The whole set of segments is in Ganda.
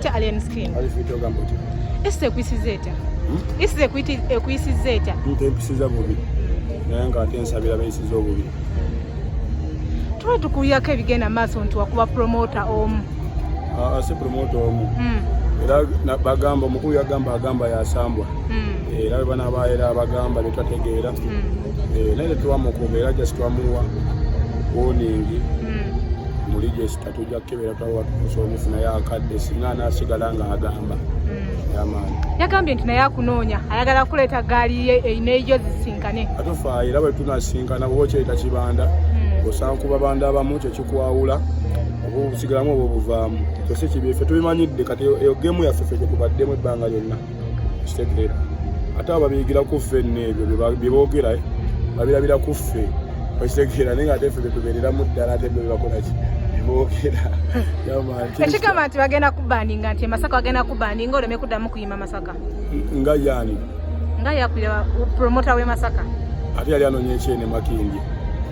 Kya alien skin. Ali fito gambo ti. Ese ekwisiza etya? Hmm? Ese ekwiti ekwisiza etya? Nte ekwisiza bubi. Naye nga ate nsabira bayisiza obubi. Tuba tukuyako ebigenda maaso nti wakuba promoter omu. Ah, ah si promoter omu. Hmm. Era bagamba omukulu yagamba agamba yasambwa. Hmm. Era bwe banaaba era abagamba ne twategeera. Hmm. Eh, naye tetwamukuba era just twamuwa warning. Hmm. Mu register. tujja kukebera tulaba tukusa omufu naye akadde singa anasigala nga agamba hmm. yamaani yagambye nti naye akunoonya ayagala kuleeta gaali ye erina eyo zisinkane atufa era bwe tunasinkana bwoba okyereta kibanda hmm. osanga ku babanda abamu kyo kikwawula oba obusigalamu oba obuvaamu kyose kibi ffe tubimanyidde kati eyo gemu yaffe ffe gyetubaddemu ebbanga lyonna kitegeera ate abo babiyigira ku ffe nno ebyo bye boogera eh, babirabira ku ffe okitegeera naye nga ate ffe betubeereramu ddala ate byo bebakolaki ekigamba nti bagenda kubandinga nti emasaka bagenda kubandinga oleme kuddamu kuyima masaka nga yaani nga yakulira promota w'emasaka ate yali anoonya ekyene makindi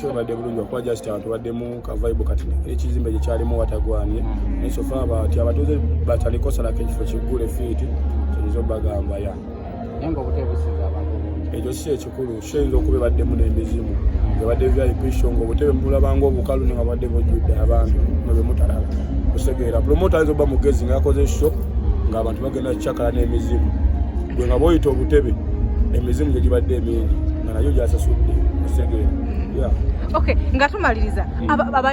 kibadde bulungi okuba just abantu baddemu kavaibu kati ekizimbe gye kyalimu watagwanye mm-hmm. naye sofa abati abatuuze batalikosalako ekifo kiggule fiiti kiyinza obagamba ya ekyo si ekikulu kiyinza okuba ebaddemu n'emizimu ebadde vyaipsho nga obutebe mubulabanga obukalu ne nga badde bujjudde abantu nebemutalala kusegeera promota ayinza okuba mugezi ngaakoze sho ngaabantu bagenda kucakala n'emizimu gwe nga bwoyita obutebe emizimu gye gibadde emingi nayo gyasasudde musegere mm. okay nga tumaliriza mm.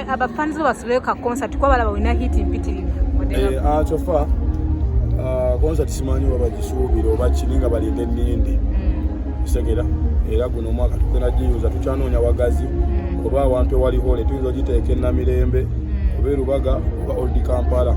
abafanzi babasuleyo ka concert kuba balaba olina hit mpitirivu eh, ah, kyofa ah, concert simanyi oba bagisuubira oba kiri nga balinde ennindi musegera mm. era guno omwaka tugenda giyuza tukyanoonya wagazi oba awantu ewali hole tuyinza ogiteeka enamirembe oba erubaga oba oldi kampala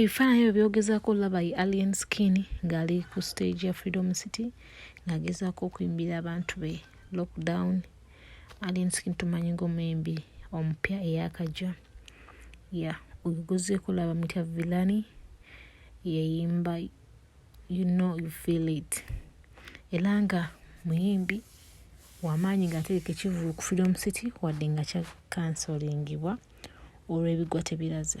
ebifaananyi ebyo byogezaako olaba ye alien skin ng'ali ku stage ya freedom city ng'agezaako okuyimbira abantu be lockdown alien skin tumanyi ng'omuyimbi omupya eyakajja ya ogezeeko olaba mutya vilani yeyimba you know you feel it era nga muyimbi wamaanyi nga atereka ekivulu ku freedom city wadde nga kya kansolingibwa olw'ebigwa tebiraze